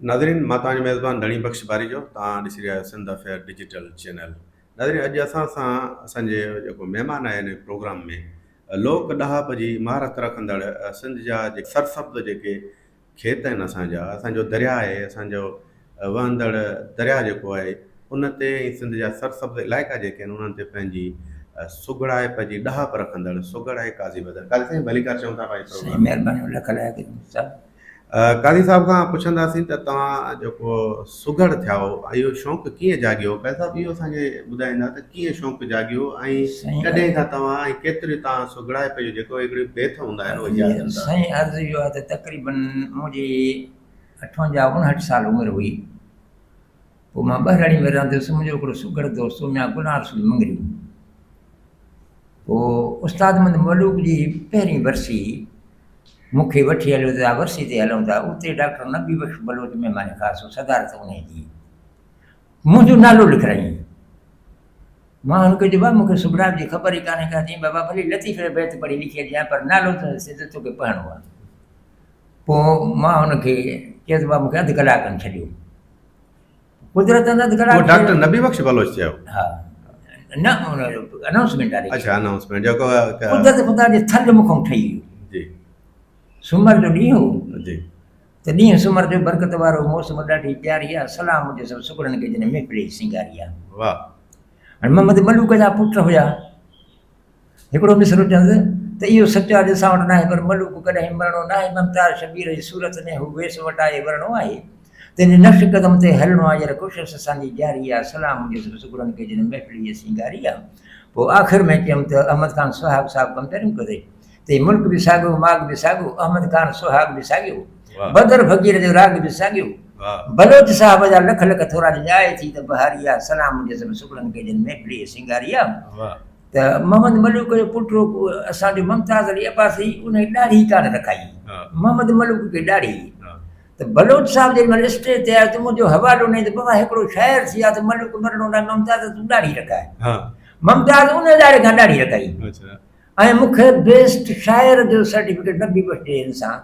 ناظرين مان توهان جو ميزبان ڌڻي بخش ٻاريجو توهان ڏسي رهيا آهيو سنڌ افيئر ڊجيٽل چينل ناظرين اڄ اسان سان اسان جي جيڪو مهمان آهي هن پروگرام ۾ لوڪ ڏاهپ جي مهارت رکندڙ سنڌ جا جيڪي سرسبز جيڪي کيت آهن اسان جا اسان جو درياء آهي اسان جو وهندڙ درياء جيڪو آهي ان تي ۽ سنڌ جا سرسبز علائقا جيڪي آهن انهن تي پنهنجي سگهڙائپ جي ڏاهپ رکندڙ سگهڙ ۽ قاضي بدر قاضي سائين ڀليڪار چئون ٿا پنهنجي پروگرام سائين مهرباني لک لائق صاحب قاضي صاحب کان پڇنداسين ته توهان جيڪو سگهڙ ٿيا هو اهو شوق ڪيئن جاڳيو قاضي صاحب اهو اسان کي ٻڌائيندا ته ڪيئن شوق جاڳيو ۽ ڪڏهن کان توهان ۽ ڪيتري توهان سگهڙائپ جو جيڪو هڪڙي بيت هوندا آهن اهي ياد ڪندا سائين عرض اهو آهي ته تقريبن منهنجي اٺونجاهه اڻهٺ سال عمر هئي پوء مان ٻهراڙيء ۾ رهندو هيس، منهنجو هڪڙو سگهڙ دوست هو ميان غلام رسول مڱري. پوء استاد محمد ملوڪ جي پهرين ورسي هئي، مون کي وٺي هليو ته آء ورسي تي هلون ٿا، اتي ڊاڪٽر نبي بخش بلوچ مهمان خاص هو، صدارت انهيء جي هئي. منهنجو نالو لکرايائين. مان هن کي چيو، بابا مون کي سگهڙائپ جي خبر ئي ڪانهي ڪا. چيائين، بابا ڀلي لطيفي جا بيت پڙهي لکي اچجانء، پر نالو ته سڌو توکي پڙهڻو آهي. پوء مان هن کي چيس ته بابا مون کي اڌ ڪلاڪ کن ڇڏيو. قدرت انت گڙا اهو ڊاڪٽر نبي بخش بلوچ چيو ها نه اناؤنسمنٽ واري اچھا اناؤنسمنٽ جو قدرت خدا جي ٿل مکم ٺهي ويو جي سومر جو ڏينهن هو جي ته ڏينهن سومر جو برڪت وارو موسم ڏاڍي پياري آ سلام جو سب سڪڙن کي جن محفل سنگاري آ واهه هن محمد ملوڪ جا پٽ هيا هڪڙو مصرعو چونس ته اهو سچ آ جو اسان وٽ ناهي پر ملوڪ ڪڏهن مرڻو ناهي ممتاز شبير جي صورت ۾ هو ويس وٽائي ورڻو آهي تنهن جي نقش قدم تي هلڻو آ ير ڪوشس اسان جي جاري آ سلام هجيس رس گلن کي جن محفل هيء سينگاري آ پوء آخر ۾ چيم ته احمد خان سهاڳ صاحب ڪمتريون ڪري تي ملڪ به ساڳيو ماڳ به ساڳيو احمد خان سهاڳ به ساڳيو بدر فقير جو راڳ به ساڳيو بلوچ صاحب جا لک لک ٿورا جن آء ٿي ته بهاري آ سلام هجيس رس گلن کي جن محفل هيء سينگاري آ ته محمد ملوڪ جو پٽ رڳو اسان جو ممتاز علي عباسي ان جي ڏاڙهي ڪانه رکائي محمد ملوڪ کي ڏاڙهي ته بلوچ صاحب جيڏي مهل اسٽيج تي آيو ته منهنجو حوالو ڏنائين ته بابا هڪڙو شاعر ٿي آ ته ملوڪ مرڻو نه ممتاز تون ڏاڙهي رکائي ممتاز ان اداري کان ڏاڙهي رکائي ۽ مون کي بيسٽ شاعر جو سرٽيفڪيٽ نبي بخش ڏي انسان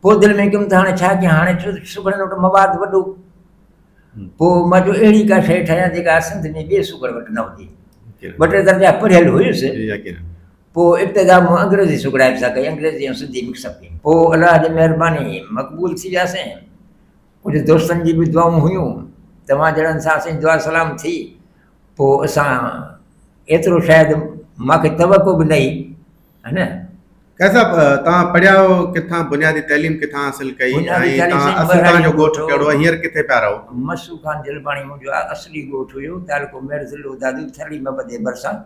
پوء دل ۾ ڪيم ته هاڻي ڇا ڪيان، هاڻي ڇو ته سگهڙن وٽ مواد وڏو. پوء مان چيو اهڙي ڪا شيء ٺاهيان جيڪا اسنڌ ۾ ٻئي سگهڙ وٽ نه هجي. ٻه ٽي درجا پڙهيل هيس. پوء ابتدا مون انگريزي سگهڙائپ سان ڪئي، انگريزي ۽ سنڌي مڪس اپ ڪئي. پوء الله جي مهرباني مقبول ٿي وياسين. ڪجهه دوستن جي به دعائون هيون. توهان جهڙن سان اسان جي دعا سلام ٿي. پوء اسان ايترو شايد مان کي توقع به نه هئي. ها نه. قيس صاحب توهان پڙهيا آهيو ڪٿان بنيادي تعليم ڪٿان حاصل ڪئي ۽ توهان جو ڳوٺ ڪهڙو آهي هينئر ڪٿي پيا رهو مسو خان جلباڻي منهنجو اصلي ڳوٺ هيو تعلقو ميڙ ضلعو دادو ٿرڙي محبت جي ڀرسان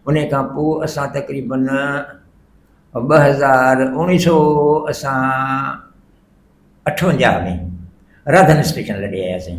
ان کان پوء اسان تقريبن ٻه هزار اوڻيهه سو اسان اٺونجاهه ۾ راڌن اسٽيشن لڏي آياسين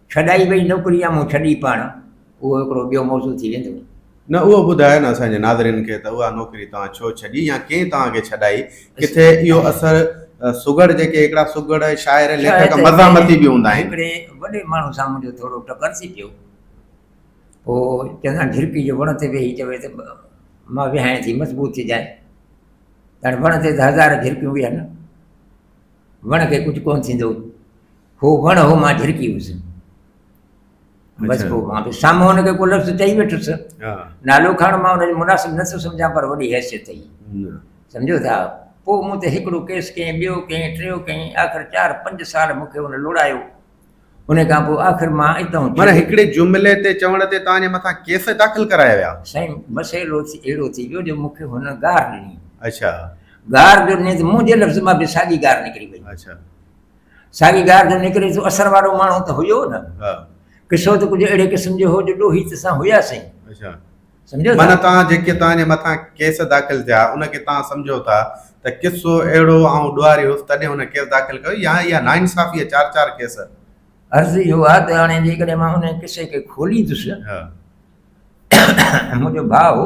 ڇڏائي وئي نوڪري يا مون ڇڏي پاڻ، اهو هڪڙو ٻيو موضوع ٿي ويندو. نه اهو ٻڌايو نه اسان جي ناظرين کي ته اها نوڪري توهان ڇو ڇڏي يا ڪنهن توهان کي ڇڏائي؟ ڪٿي اهو اثر سگهڙ جيڪي هڪڙا سگهڙ شاعر ليکڪ مزاحمتي به هوندا آهن. هڪڙي وڏي ماڻهو سان منهنجو ٿورو ٽڪر ٿي پيو. پوء چندان جهرڪي جو وڻ تي ويهي چوي ته مان ويهانء ٿي مضبوط ٿي جانء. هاڻي وڻ تي ته هزار جهرڪيون ويهن وڻ کي ڪجهه ڪونه ٿيندو. هو وڻ هو مان جھرڪي هيس بس اچھا۔ پوء مان به سامهون هن کي ڪو لفظ چئي ويٺس ها نالو کڻڻ مان ان جو مناسب نه ٿو سمجهان پر وڏي حيثيت هئي نه سمجهو ٿا پوء مون تي هڪڙو ڪيس ڪيائين ٻيو ڪيائين ٽيون ڪيائين آخر چار پنج سال مون کي هن لوڙايو ان کان پوء آخر مان اتان معنيٰ ڇڏي هڪڙي جملي تي چوڻ تي توهان جي مٿان ڪيس داخل ڪرايا ويا سائين مسئلو ٿي اهڙو ٿي ويو جو مون کي هن گار ڏني اچھا گار جو ڏني ته منهنجي لفظ مان به ساڳي گار نڪري وئي اچھا ساڳي ڳاهر جو نڪري ٿو اثر وارو ماڻهو ته هيو نه ها قصو ته ڪجهه اهڙي قسم جو هو جو ڏوهي ته سان هيا سين اچھا سمجهو معنيٰ ٿا توهان جيڪي توهان جي مٿان ڪيس داخل ٿيا ان کي توهان سمجهو ٿا ته قصو اهڙو آئون ڏوهاري هيس تڏهن هن ڪيس داخل ڪيو يا اها ناانصافي چار چار ڪيس عرض اهو آهي ته هاڻي جيڪڏهن مان ان قصي کي کوليندس ها ۽ منهنجو ڀاء هو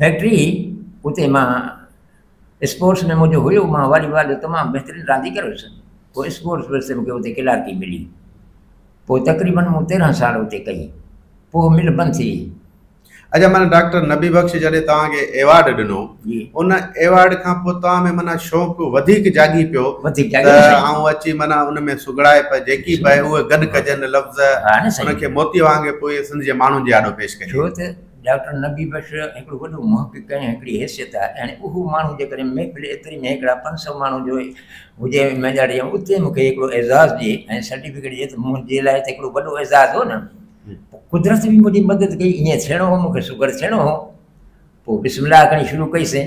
فيڪٽري هئي اتي مان اسپورٽس ۾ منهنجو هيو مان والي بال جو تمام بهترين رانديگر هيس پوء اسپورٽس ورثي مونکي اتي ڪلارڪي ملي پوء تقريبن مون تيرهن سال اتي ڪئي پوء مل بند ٿي وئي اچا معنی ڊاڪٽر نبي بخش جڏهن توهان کي ايوارڊ ڏنو جي ان ايوارڊ کان پوء توهان ۾ معنی شوق وڌيڪ جاڳي پيو وڌيڪ ته جاڳي سائين آئون اچي معنی ان ۾ سگهڙائپ جيڪي به آهي اهي گڏ ڪجن لفظ ها نه ان سائين کي موتي وانگي پوء سنڌ جي ماڻهن جي آڏو پيش ڪجي ڇو ته ڊاڪٽر نبي بخش هڪڙو وڏو محقق ۽ هڪڙي حيثيت آهي يعني اهو ماڻهو جيڪڏهن محفل ايتري ۾ هڪڙا پنج سؤ ماڻهو جو هجي مينجي آڊيٽوريم اتي مون کي هڪڙو اعزاز ڏي ۽ سرٽيفڪيٽ ڏي ته منهنجي لاء ته هڪڙو وڏو اعزاز هو نه پوء قدرت به منهنجي مدد ڪئي ائين ٿيڻو هو مون کي شگر ٿيڻو هو پوء بسم الله ڪرڻي شروع ڪئي سين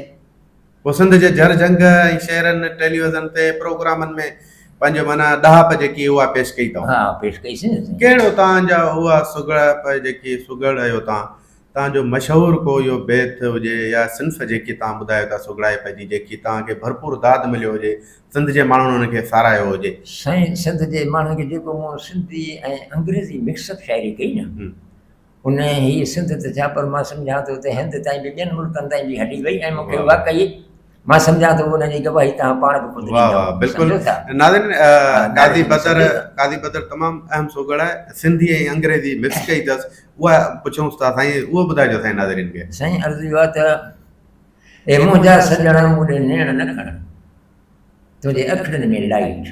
هو سنڌ جي جر جهنگ ۽ شهرن، ٽيليوزن تي پروگرامن ۾ پنهنجي معنيٰ ڏاهپ جيڪي اها پيش ڪئي تئون. ها پيش ڪئي سين. ڪهڙو تان جا اها سگهڙپ جيڪي سگهڙ رهيو تان، تان جو مشهور ڪو اهو بيت هجي يا صنف جيڪي تان ٻڌايو ٿا سگهڙائپ جي جيڪي تان کي ڀرپور داد مليو هجي، سنڌ جي ماڻهن ان کي ساراهيو هجي. سائين سنڌ جي ماڻهن کي جيڪو مون سنڌي ۽ انگريزي مڪس اپ شاعري ڪئي نه. هن هي سنڌ ته ڇا پر مان سمجهان ٿو ته هند تائين به ٻين ملڪن تائين به هلي وئي ۽ مون کي واقعي مان سمجهان ٿو ان جي گواهي توهان پاڻ به خود ڏيندؤ سمجهو ٿا ناظرين قاضي بدر قاضي بدر تمام اهم سوگڙ آهي سنڌي ۽ انگريزي مڪس ڪئي اٿس اها پڇونس ٿا سائين اهو ٻڌائجو سائين ناظرين کي سائين عرض اهو ته اي منهنجا سڄڻا مون ڏي نيڻ نه کڻ تنهنجي اکڙين ۾ لائيٽ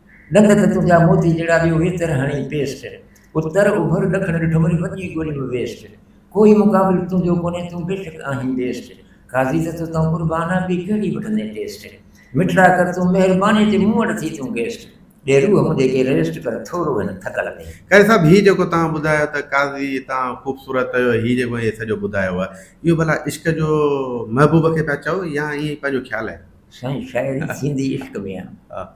ڏند ته تنهنجا موتي جهڙا ٻيو ويتر هڻي پيسٽ اتر اوڀر ڏکڻ ڏٺم وري وڄي ڳولي م ويسٽ ڪوئي مقابل تنهنجو ڪونهي تون بيشڪ آهين بيسٽ قاضي ته توتان قربان آ ٻي ڪهڙي وٺندين ٽيسٽ مٺڙا ڪر تون مهرباني تي مون وٽ ٿي تون گيسٽ ڏي روح منهنجي کي ريسٽ ڪر ٿورو هن ٿڪل ۾. قاضي صاحب هي جيڪو توهان ٻڌايو ته قاضي توهان خوبصورت چيو هي جيڪو هي سڄو ٻڌايو هو اهو ڀلا عشق جو محبوب کي پيا چئو يا ائين پنهنجو خيال آهي. سائين شاعري ٿيندي عشق ۾ آ.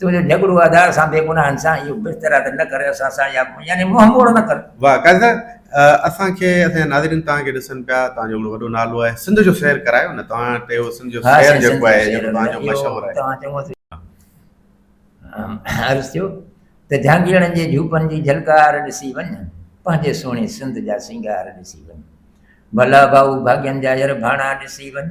تنهنجو جهڳڙو آڌار سان بي گناهن سان اهو بستر آدر نه ڪر اسان سان يا يعني منهن موڙ نه ڪر. واھ قائد صاحب اسان کي اسان جا ناظرين توهان کي ڏسن پيا توهان جو وڏو نالو آهي سنڌ جو سير ڪرايو نه توهان وٽ اهو سنڌ جو سير جيڪو آهي جيڪو توهان جو مشهور آهي توهان چڱو عرض ٿيو ته جهانگيرڙن جي جهوپن جي جهلڪار ڏسي وڃ پنهنجي سهڻي سنڌ جا سينگار ڏسي وڃ ڀلا ڀائو ڀاڳين جا ير ڀاڻا ڏسي وڃ،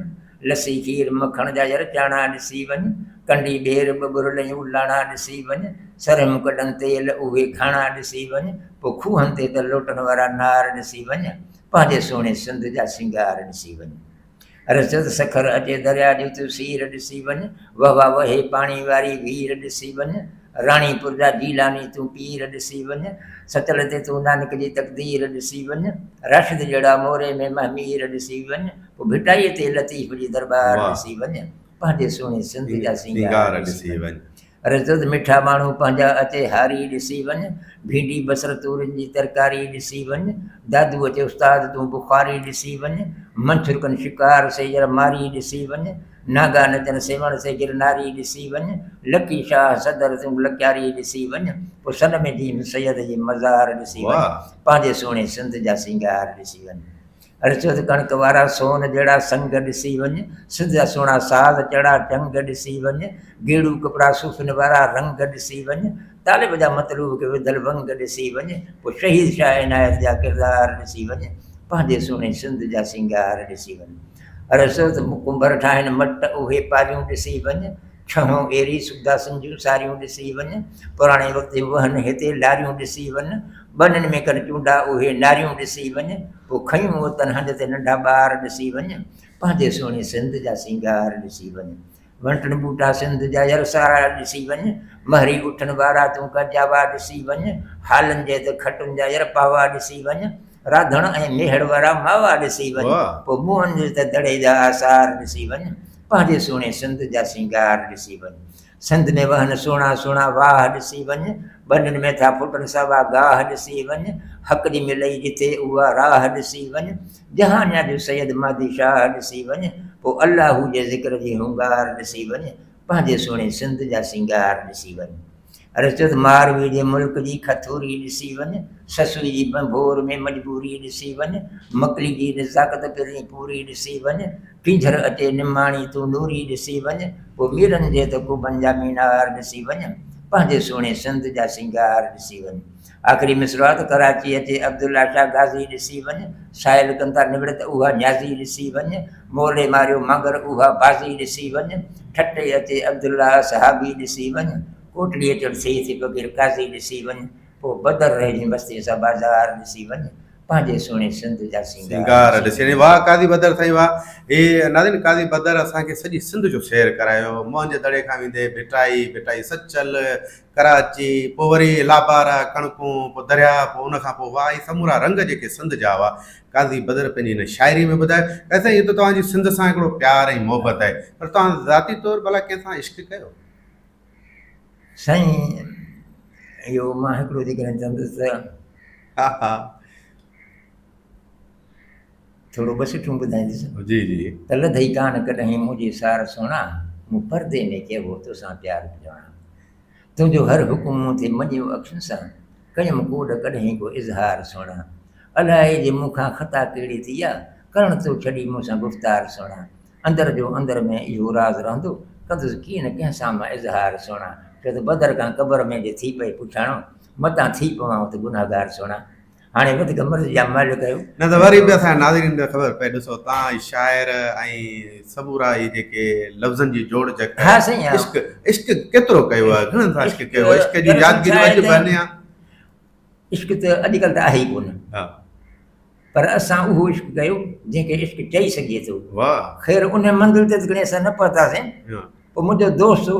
لسي کير مکڻ جا ير چاڻا ڏسي وڃ، ڪنڊي ٻير ٻه ٻرليون لاڻا ڏسي وڃ، سرهم ڪڏن تيل اهي کاڻا ڏسي وڃ، پوء کوهن تي ته لوٽن وارا نار ڏسي وڃ، پنهنجي سهڻي سنڌ جا سينگار ڏسي وڃ. رچد سکر اچي دريا جو تون سير ڏسي وڃ، وهوا وهي پاڻي واري وير ڏسي وڃ، راڻي پور جا جيلاني تون پير ڏسي وڃ، سچل تي تون نانڪ جي تقدير ڏسي وڃ، راشد جهڙا موري ۾ مهمير ڏسي وڃ، پوء ڀٽائي تي لطيف جي درٻار ڏسي وڃ، پنهنجي سهڻي سنڌ جا سينگار ڏسي وڃ، رزد مٺا ماڻهو پنهنجا اچي هاري ڏسي وڃ، ڀينڊي بصر تورين جي ترڪاري ڏسي وڃ، دادوء تي استاد تون بخاري ڏسي وڃ، منڇرڪن شڪار سيجر ماري ڏسي وڃ، ناگا نچن سيوهڻ سي گرناري ڏسي وڃ، لڪي شاهه صدر تون لڪياري ڏسي وڃ، پوء سن ۾ ديم سيد جي مزار ڏسي وڃ، پنهنجي سهڻي سنڌ جا سينگار ڏسي وڃ. ارشد ڪڻڪ وارا سون جهڙا سنگ ڏسي وڃ، سنڌ جا سهڻا ساز چڙا چنگ ڏسي وڃ، گيڙو ڪپڙا صوفين وارا رنگ ڏسي وڃ، طالب جا مطلوب کي وڌل ونگ ڏسي وڃ، پوء شهيد شاهه عنايت جا ڪردار ڏسي وڃ، پنهنجي سهڻي سنڌ جا سينگار ڏسي وڃ. عرضو ته مڪمبر ٺاهن مٽ اهي پاريون ڏسي وڃ، ڇهون ايري سوداسن جون ساريون ڏسي وڃ، پراڻي وقت جون وهن هتي لاريون ڏسي وڃ، ٻنين ۾ ڪن چونڊا اهي ناريون ڏسي وڃ، پوء کنيون اوتن هنڌ تي ننڍا ٻار ڏسي وڃ، پنهنجي سهڻي سنڌ جا سينگار ڏسي وڃ. وڻ ٽڻ ٻوٽا سنڌ جا ير سارا ڏسي وڃ مهري اٺن وارا تون ڪجاوا ڏسي وڃ هالن جي ته کٽن جا ير پاوا ڏسي وڃ راڌڻ ۽ ميهڙ وارا ماوا ڏسي وڃ پوء موهن جي ته دڙي جا آثار ڏسي وڃ پنهنجي سهڻي سنڌ جا سينگار ڏسي وڃ سنڌ ۾ وهن سهڻا سهڻا واهه ڏسي وڃ ٻنين ۾ ٿا ڦٽن ساوا گاهه ڏسي وڃ حق جي ملئي جتي اها راهه ڏسي وڃ جهانيان جو سيد مهدي شاهه ڏسي وڃ پوء الله جي ذڪر جي هونگار ڏسي وڃ پنهنجي سهڻي سنڌ جا سينگار ڏسي وڃ عرض ٿيو ته ماروي جي ملڪ جي کٿوري ڏسي وڃ سسئي جي ڀنڀور ۾ مجبوري ڏسي وڃ مڪلي جي نزاڪت پرين پوري ڏسي وڃ ٽينجهر اچي نماڻي تون نوري ڏسي وڃ پوء ميرن جي ته ڪوبن جا مينار ڏسي وڃ پنهنجي سهڻي سنڌ جا سينگار ڏسي وڃ آخري مصرعو ته ڪراچي اچي عبدالله شاهه غازي ڏسي وڃ سائل ڪن ٿا نوڙت اها نيازي ڏسي وڃ مولي ماريو مگر اها بازي ڏسي وڃ ٺٽي اچي عبدالله اصحابي ڏسي وڃ ڪوٽڙيء چڙ سيد ٿي فقير قاضي ڏسي وڃ پوء بدر رهجين بستيء سان بازار ڏسي وڃ پنهنجي سهڻي سنڌ جا سينگار ڏسي وڃ واهه قاضي بدر سائين واهه هي ناظرين قاضي بدر اسان کي سڄي سنڌ جو سير ڪرايو مهنج دڙي کان ويندي ڀٽائي ڀٽائي سچل ڪراچي، پوء وري لابار، ڪڻڪون، پوء دريا، پوء ان کان پوء واء، هي سمورا رنگ جيڪي سنڌ جا هئا، قاضي بدر پنهنجي هن شاعريء ۾ ٻڌايو. قاضي سائين، هيء ته توهان جي سنڌ سان هڪڙو پيار ۽ محبت آهي، پر توهان ذاتي طور ڀلا ڪنهن سان عشق ڪيو؟ سائين، اهو مان هڪڙو جيڪڏهن چوندس ته. ها ها. ٿورو ٻه سٽون ٻڌائيندس. جي جي. تل ٿئي ڪانه ڪڏهين منهنجي سار سهڻا، مون پردي ۾ ڪيو هو توسان پيار پڄاڻا. تنهنجو هر حڪم مون ٿي مڃيو اکين سان، ڪيم ڪوڏ ڪڏهين ڪو اظهار سهڻا. الائي جي مون کان خطا ڪهڙي ٿي آ، ڪرڻ تو ڇڏي مون سان گفتار سهڻا. اندر جو اندر ۾ اهو راز رهندو، ڪندس ڪين ڪنهن سان مان اظهار سهڻا. شايد بدر کان قبر ۾ جي ٿي پئي پڇاڻو، متان ٿي پوان ات گنهگار سهڻا. هاڻي ٻڌ ته مرضي جا مهل ڪيو. نه ته وري به اسان جي ناظرين کي خبر پئي ڏسو توهان جي شاعر ۽ سمورا هي جيڪي لفظن جي جوڙ جڪ ها سائين ها. عشق عشق ڪيترو ڪيو آهي گهڻن سان عشق عشق ڪيو آهي عشق جون دراصل يادگيريون ڇا اڄ آهي به سائين؟ انيا عشق ته اڄڪلهه ته آهي ئي ڪونه ها پر اسان اهو عشق ڪيو جنهن کي عشق چئي سگهجي ٿو واهه خير ان منزل تي ته کڻي اسان نه پهتاسين ها. پوء منهنجو دوست هو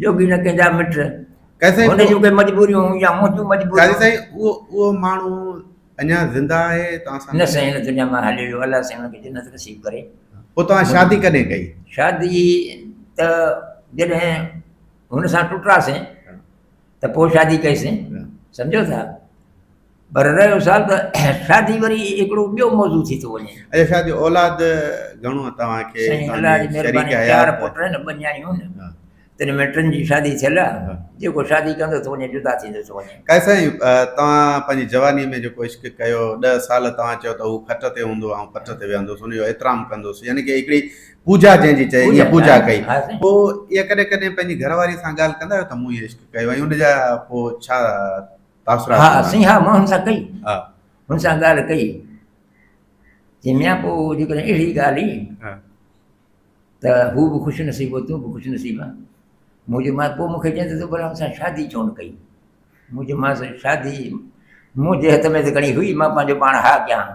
جوڳي نه ڪنهن جا مٽ. قاضي سائين هن جون ڪي مجبوريون هيون يا منهنجون قاضي مجبوريون. سائين اهو اهو ماڻهو اڃا زنده آهي توهان سان نه سائين هن دنيا مان هلي ويو الله سائين هن کي جنت نصيب ڪري. پوء توهان شادي ڪڏهن ڪئي؟ شادي ته جڏهن هن سان ٽٽاسين ته پوء شادي ڪئي سين سمجهو ٿا. پر رهيو سوال ته شادي وري هڪڙو ٻيو موضوع ٿي ٿو وڃي. اچا شاهه جي اولاد گهڻو آهي توهان کي؟ سائين الله جي مهرباني چار پٽ آهن ٻه نياڻيون آهن. تن ۾ ٽن جي شادي ٿيل آهي. جيڪو شادي ڪندو ٿو وڃي جدا ٿيندو ٿو وڃي. قائد سائين توهان پنهنجي جواني ۾ جيڪو عشق ڪيو ڏهه سال توهان چيو ته هو کٽ تي هوندو آئون پٽ تي ويهندوس ان جو احترام ڪندوس يعني ڪي هڪڙي پوجا جنهن جي چئي اها پوجا ڪئي پوء اها ڪڏهن ڪڏهن پنهنجي گهر واري سان ڳالهه ڪندا آهيو ته مون هي عشق ڪيو ۽ ان جا پوء ڇا تاثرات ها سائين ها مان هن سان ڪئي ها هن سان ڳالهه ڪئي جي ميان پوء جيڪڏهن اهڙي ڳالهه ئي ها ته هو به خوش نصيب هو تون به خوش نصيب آ مون چيو مانس پوء مونکي چئين ته تو ڀلا هن سان شادي ڇو نه ڪئي مون چيو مانس شادي منهنجي هٿ ۾ ته کڻي هئي مان پنهنجو پاڻ ها ڪيان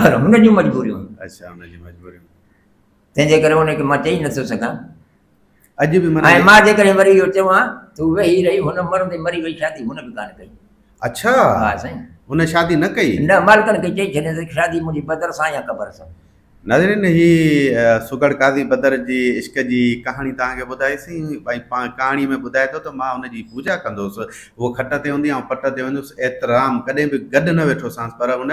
پر هن جون مجبوريون اچھا هن جون مجبوريون تنهن جي ڪري ان کي مان چئي نٿو سگهان. اڄ به منا ۽ مان جيڪڏهن وري اهو چوان ته هو ويهي رهي، هن مرندي مري وئي شادي هن به ڪانه ڪئي. اڇا! ها سائين. هن شادي نه ڪئي؟ نه، مالڪن کي چئي ڇڏيائين ته شادي منهنجي بدر سان يا قبر سان. ناظرين هي سگهڙ قاضي بدر جي عشق جي ڪهاڻي توهان کي ٻڌائي سين ۽ پاڻ ڪهاڻي ۾ ٻڌائي ٿو ته مان ان جي پوڄا ڪندو هوس، هوء کٽ تي هوندي آئون پٽ تي هوندي هوس، احترام ڪڏهن به گڏ نه ويٺو سانس پر ان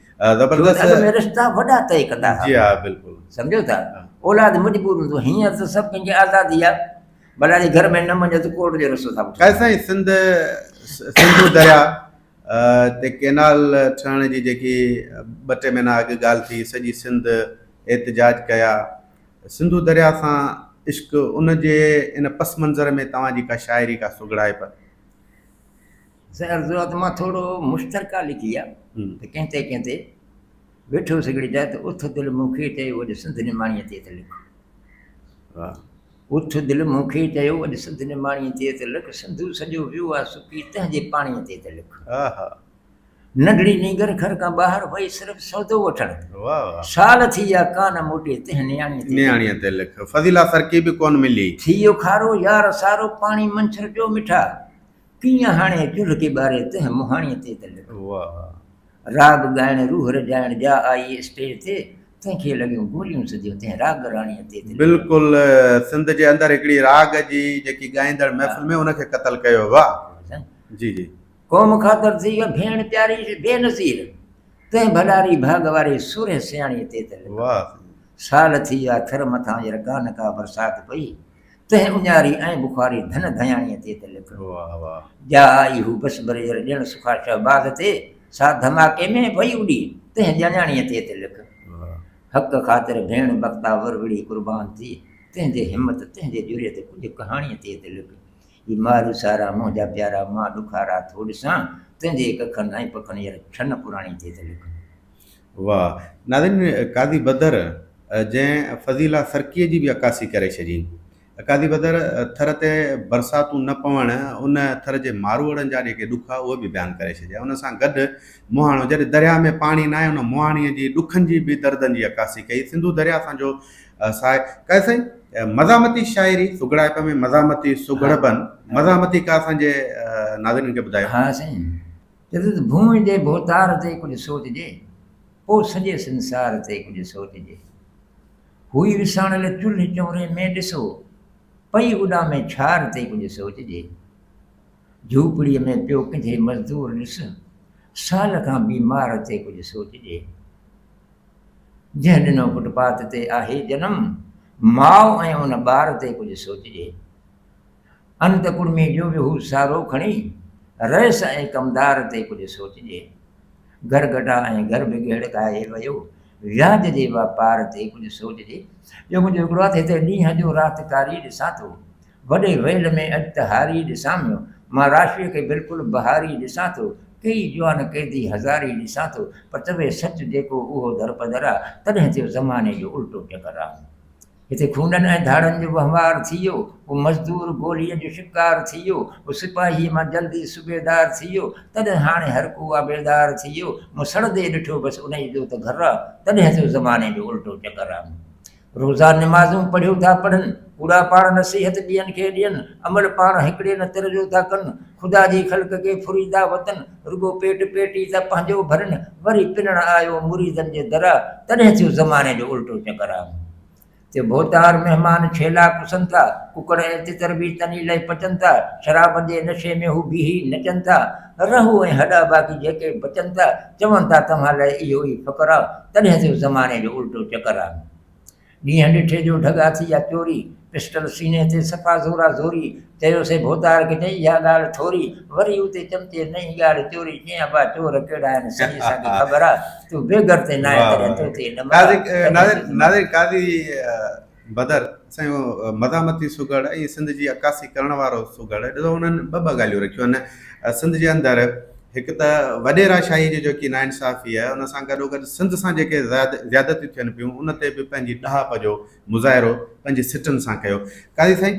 زبردست اڳ ۾ رشتا وڏا طئي ڪندا ها جي ها بلڪل سمجهو ٿا اولاد مجبور هوندو هينئر ته سڀ ڪنهن کي آزادي آ بلا جي گهر ۾ نه مڃيو ته ڪورٽ جو رستو ٿا پٺيو خير سائين سنڌ سنڌو دريا تي ڪينال ٺهڻ جي جيڪي ٻه ٽي مهينا اڳ ڳالهه ٿي سڄي سنڌ احتجاج ڪيا سنڌو دريا سان عشق ان جي ان پس منظر ۾ توهان جي ڪا شاعري ڪا سگهڙائپ سائين عرض آ ته مان ٿورو مشترڪه لکي آ ته ڪنهن تي ڪنهن تي ويٺو سگهڙي جا ته اٿ دل مون کي چيو اڄ سنڌ نماڻيء تي ته لک واهه اٿ دل مون کي چيو اڄ سنڌ نماڻيء تي ته لک سنڌو سڄو ويو آ سڪي تنهنجي پاڻيء تي ته لک آها ننڍڙي نينگر گهر کان ٻاهر وئي صرف سودو وٺڻ واهه واهه سال ٿي ويا ڪانه موٽي تنهن نياڻيء تي نياڻيء تي لک فضيلا سرڪي به ڪونه ملي ٿي ويو کارو يار سارو پاڻي منڇر جو مٺا ڪيئن هاڻي چلهه کي ٻاري تنهن مهاڻيء تي ته لڳيون واهه راڳ ڳائڻ روح رجائڻ جا آئي اسٽيج تي تنهن کي لڳيون گوليون سڌيون تنهن راڳ راڻيء تي ته لڳيون. بلڪل سنڌ جي اندر هڪڙي راڳ جي جيڪي ڳائيندڙ محفل ۾ ان کي قتل ڪيو واهه جي جي. قوم خاطر ٿي اها ڀيڻ پياري بي نظير تنهن ڀلاري ڀاڳ واري سورهيه سياڻيء تي ته لڳيون واهه سال ٿي آ ٿر مٿان ير ڪا نه ڪا برسات پئي تنهن اڃاري ۽ بخاري ڌن ڌياڻيء تي ته لک جا آئي هو بس بريجر ڏيڻ سکا شهباز تي سا ڌماڪي ۾ پئي اڏي تنهن ڄاڃاڻيء تي ته لک حق خاطر ڀيڻ بختا وروڙي قربان ٿي تنهنجي همت تنهنجي جرئت ڪجهه ڪهاڻيء تي ته لک اي مارو سارا منهنجا پيارا مان ڏکارا ٿو ڏسان تنهنجي ڪکن ۽ پکن ير ڇن پراڻي تي ته لک واھ ناظرين قاضي بدر جنهن فضيله سرڪيء جي به عڪاسي ڪري ڇڏي. قاضي بدر ٿر تي برساتون نه پوڻ ان ٿر جي ماروئڙن جا جيڪي ڏک ھئا اھي به بيان ڪري ڇڏيا ان سان گڏ مهاڻو جڏھن درياھ ۾ پاڻي ناھي ان مهاڻيء جي ڏکن جي به دردن جي عڪاسي ڪئي سنڌو درياھ اسان جو ساھي قاضي سائين مزاحمتي شاعري سگهڙائپ ۾ مزاحمتي سگهڙپن مزاحمتي ڪا اسان جي ناظرين کي ٻڌايو. ھا سائين چيو ته ڀونء جي ڀوتار تي ڪجهه سوچجي، پوء سڄي سنسار تي ڪجهه سوچجي. هئي وساڻيل چلهه چوري ۾ ڏسو، پئي اڏامي ڇار تي ڪجهه سوچجي. جهوپڙيء ۾ پيو ڪنجهي مزدور ڏس، سال کان بيمار تي ڪجهه سوچجي. جنهن ڏنو فٽ پاٿ تي آهي جنم، ماء ۽ ان ٻار تي ڪجهه سوچجي. انت ڪڙمي جو به هو سارو کڻي رئيس ۽ ڪمدار تي ڪجهه سوچجي. گهر گهٽا ۽ گهر به گهڙڪائي ويو. وياج جي واپار تي ڪجهه سوچجي. جو منهنجو هڪڙو هٿ هتي ڏينهن جو رات ڪاري ڏسان ٿو. وڏي ويل ۾ اڄ ته هاري ڏسان پيو. مان راشيء کي بلڪل بهاري ڏسان ٿو. ڪيئي جوان قيدي هزاري ڏسان ٿو. پر چوي سچ جيڪو اهو درپدر آ. تڏهن ٿيو زماني جو الٽو چڪر آ. جتي خونن ۽ ڌاڙن جو وهنوار ٿي ويو، ڪو مزدور گوليء جو شڪار ٿي ويو، ڪو سپاهيء مان جلدي صوبيدار ٿي ويو، تڏهن هاڻي هر ڪو آ بيدار ٿي ويو. مون سڙندي ڏٺو بس انهيء جو ته گهر آ، تڏهن ٿيو زماني جو الٽو چڪر آ. روزا نمازون پڙهيو ٿا پڙهن، ڪوڙا پاڻ نصيحت ٻين کي ڏين، عمل پاڻ هڪڙي نه تر جو ٿا ڪن، خدا جي خلق کي ڦري ٿا وتن، رڳو پيٽ پيٽي ته پنهنجو ڀرن، وري پنڻ آيو مريدن جي در آ، تڏهن ٿيو زماني جو الٽو چڪر آ. ٿيو ڀوتار مهمان ڇيلا ڪسن ٿا، ڪڪڙ ۽ تتر به تني لئي پچن ٿا، شرابن جي نشي ۾ هو بيهي نچن ٿا، رهو ۽ هڏا باقي جيڪي بچن ٿا، چون ٿا توهان لئي اهو ئي فقر آ، تڏهن ٿيو زماني جو الٽو چڪر آ. ڏينهن ڏٺي جو ڍڳ هٿ جا چوري، پسٽل سيني تي صفا زورا زوري، چيوسي ڀوتار کي نه اها ڳالهه ٺوري، وري اتي چمچي نئين ڳالهه چوري، چيائين ابا چور ڪهڙا آهن سڄي اسان کي خبر آ، تون بي گهر تي ناهين تڏهن تو تي نمر آ، ناظر تڏهن ناظر تي نمر ناظر قاضي بدر سائين اهو مزاحمتي سگهڙ ۽ سنڌ جي عڪاسي ڪرڻ وارو سگهڙ ڏسو انهن ٻه ٻه ڳالهيون رکيون آهن سنڌ جي اندر هڪ ته وڏيراشاهي جي جيڪي ناانصافي آهي ان سان گڏوگڏ سنڌ سان جيڪي زيادتيون ٿين پيون ان تي به پنهنجي ڏاهپ جو مظاهرو پنهنجي سٽن سان ڪيو. قاضي سائين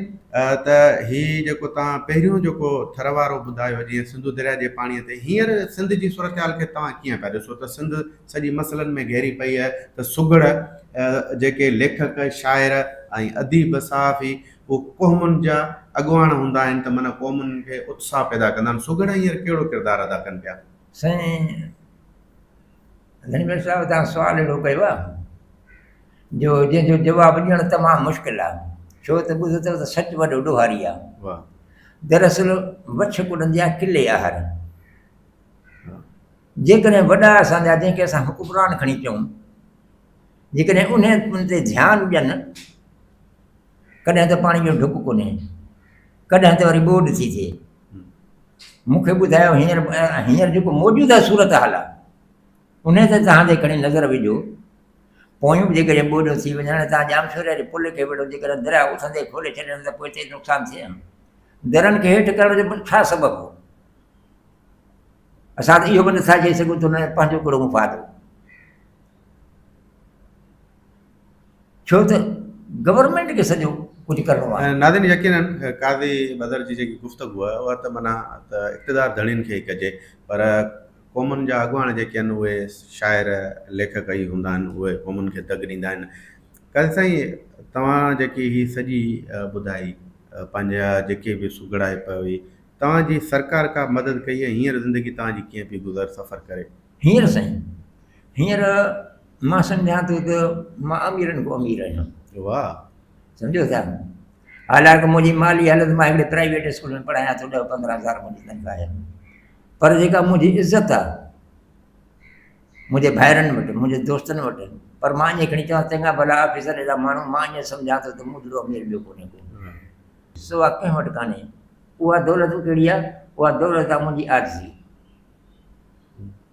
ته هي جيڪو توهان پهريون جيڪو ٿر وارو ٻڌايو جيئن سنڌو درياء جي پاڻي تي هينئر سنڌ جي صورتحال کي توهان ڪيئن پيا ڏسو ته سنڌ سڄي مسئلن ۾ گهيري پئي آهي ته سگهڙ جيڪي ليکڪ شاعر ۽ اديب صحافي هو قومن جا اڳواڻ هوندا آهن ته من قومن کي اتساهه پيدا ڪندا آهن. سگهڙا هينئر ڪهڙو ڪردار ادا ڪن پيا؟ سائين ڌڻيوٽ صاحب توهان سوال اهڙو ڪيو آهي جو جنهن جو جواب ڏيڻ تمام مشڪل آهي ڇو ته ٻڌو اٿو ته سچ وڏو ڏوهاري آهي واهه دراصل وڇ ڪڏندي آهي قلعي آهر جيڪڏهن وڏا اسان جا جنهن کي اسان حڪمران کڻي چئون جيڪڏهن انهن تي ڌيان ڏين ڪڏهن ته پاڻي جو ڍڪ ڪونهي ڪڏهن ته وري ٻوڏ ٿي ٿئي مون کي ٻڌايو هينئر هينئر جيڪو موجوده صورتحال آهي ان تي توهان جي کڻي نظر وجهو پويون به جيڪڏهن ٻوڏ ٿي وڃن هاڻي توهان ڄام شوري واري پل کي ويڙهو جيڪڏهن دريا اٿندي کولي ڇڏين ته پوء تيز نقصان ٿئي ها درن کي هيٺ ڪرڻ جو ڇا سبب هو اسان ته اهو به نٿا چئي سگهون ته هن پنهنجو ڪهڙو مفاد هو ڇو ته گورنمينٽ کي سڄو ڪجهه ڪرڻو آهي. ناظرين يقينن قاضي بدر جي جيڪي گفتگو آهي اها ته معنيٰ ته اقتدار ڌڻين کي ئي ڪجي پر قومن جا اڳواڻ جيڪي آهن اهي شاعر ليکڪ ئي هوندا آهن اهي قومن کي دڳ ڏيندا آهن. قاضي سائين توهان جيڪي هي سڄي ٻڌائي پنهنجا جيڪي به سگهڙائي پئي هئي توهان جي سرڪار ڪا مدد ڪئي ۽ هينئر زندگي توهان جي ڪيئن پئي گذر سفر ڪري. هينئر سائين هينئر مان سمجهان ٿو ته مان اميرن کان امير آهيان. واهه. سمجهو ٿا؟ حالانڪ منهنجي مالي حالت مان هڪڙي پرائيويٽ اسڪول ۾ پڙهايان ٿو ڏهه پندرهن هزار منهنجي تنخواهه آهي پر جيڪا منهنجي عزت آهي منهنجي ڀائرن وٽ منهنجي دوستن وٽ پر مان ائين کڻي چوان چڱا ڀلا آفيسر اهڙا ماڻهو مان ائين سمجهان ٿو ته مون جهڙو امير ٻيو ڪونهي ڪو سوا ڪنهن وٽ ڪانهي اها دولت ڪهڙي آهي اها دولت آهي منهنجي عاجزي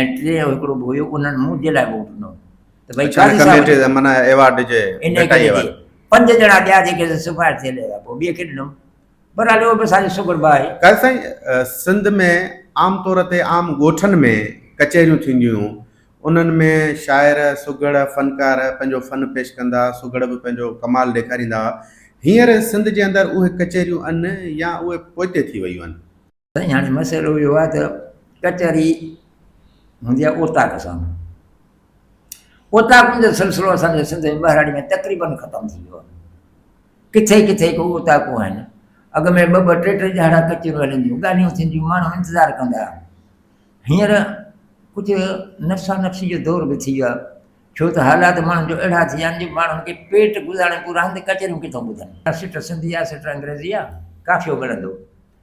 ۽ ٽي جو هڪڙو به هيو انهن مون جي لاء ووٽ ڏنو ته ڀئي قاضي صاحب معنی ايوارڊ ڏجي ان ڪري ٿي پنج ڄڻا ٻيا جيڪي سفارش ٿيل هيا پوء ٻئي کي ڏنو برحال اهو به اسان جو شڪر به آهي قاضي سائين سنڌ ۾ عام طور تي عام ڳوٺن ۾ ڪچهريون ٿينديون هيون انهن ۾ شاعر سگهڙ فنڪار پنهنجو فن پيش ڪندا سگهڙ به پنهنجو ڪمال ڏيکاريندا هئا هينئر سنڌ جي اندر اهي ڪچهريون ان يا اهي پوئتي ٿي ويون آهن سائين هاڻي مسئلو اهو آهي ته ڪچهري هوندي آهي اوطاق سان، اوطاقن جو سلسلو اسان جي سنڌ ۽ ٻهراڙي ۾ تقريبن ختم ٿي ويو آهي. ڪٿي ڪٿي ڪو اوطاقون آهن، اڳ ۾ ٻه ٻه ٽي ٽي ڏهاڙا ڪچهريون هلنديون، ڳالهيون ٿينديون، ماڻهو انتظار ڪندا هئا. هينئر ڪجهه نفسا نفسي جو دور به ٿي ويو آهي، ڇو ته حالات ماڻهن جو اهڙا ٿي ويا آهن جو ماڻهن کي پيٽ گذارڻ پورا آهن ته ڪچهريون ڪٿان ٻڌن. سٽ سنڌي آهي، سٽ انگريزي آهي، قافيو ملندو.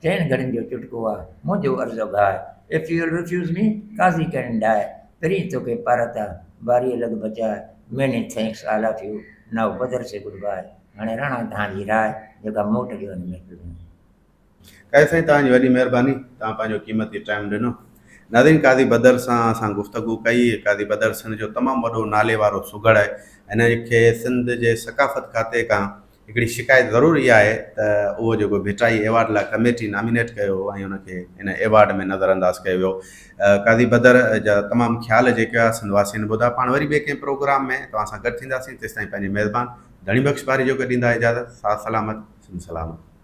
چئن گهڙين جو چٽڪو آ، منهنجو عرض و گهاء، If you'll refuse me، قاضي ڪرين ڊاء، پرين توکي پارت آ، باريء لڳ بچاء، Many thanks all of you، Now Badar say goodbye, هاڻي راڻا توهان جي راء، جيڪا موٽ ڏيو هن محفل ۾. قاضي سائين توهان جي وڏي مهرباني، توهان پنهنجو قيمتي ٽائيم ڏنو. ناظرين قاضي بدر سان اسان گفتگو ڪئي، قاضي بدر سنڌ جو تمام وڏو ناليوارو سگهڙ آهي، هن کي سنڌ جي ثقافت کاتي کان هڪڙي شڪايت ضرور اها آهي ته اهو جيڪو ڀٽائي ايوارڊ لاء ڪميٽي نامينيٽ ڪيو هو ۽ ان کي ان ايوارڊ ۾ نظر انداز ڪيو ويو. قاضي بدر جا تمام خيال جيڪي هئا سنڌ واسين ٻڌا. پاڻ وري ٻئي ڪنهن پروگرام ۾ توهان سان گڏ ٿينداسين تيستائين پنهنجي ميزبان ڌڻي بخش پاريجو کي ڏيندا اجازت. ساٿ سلامت سنڌ سلامت.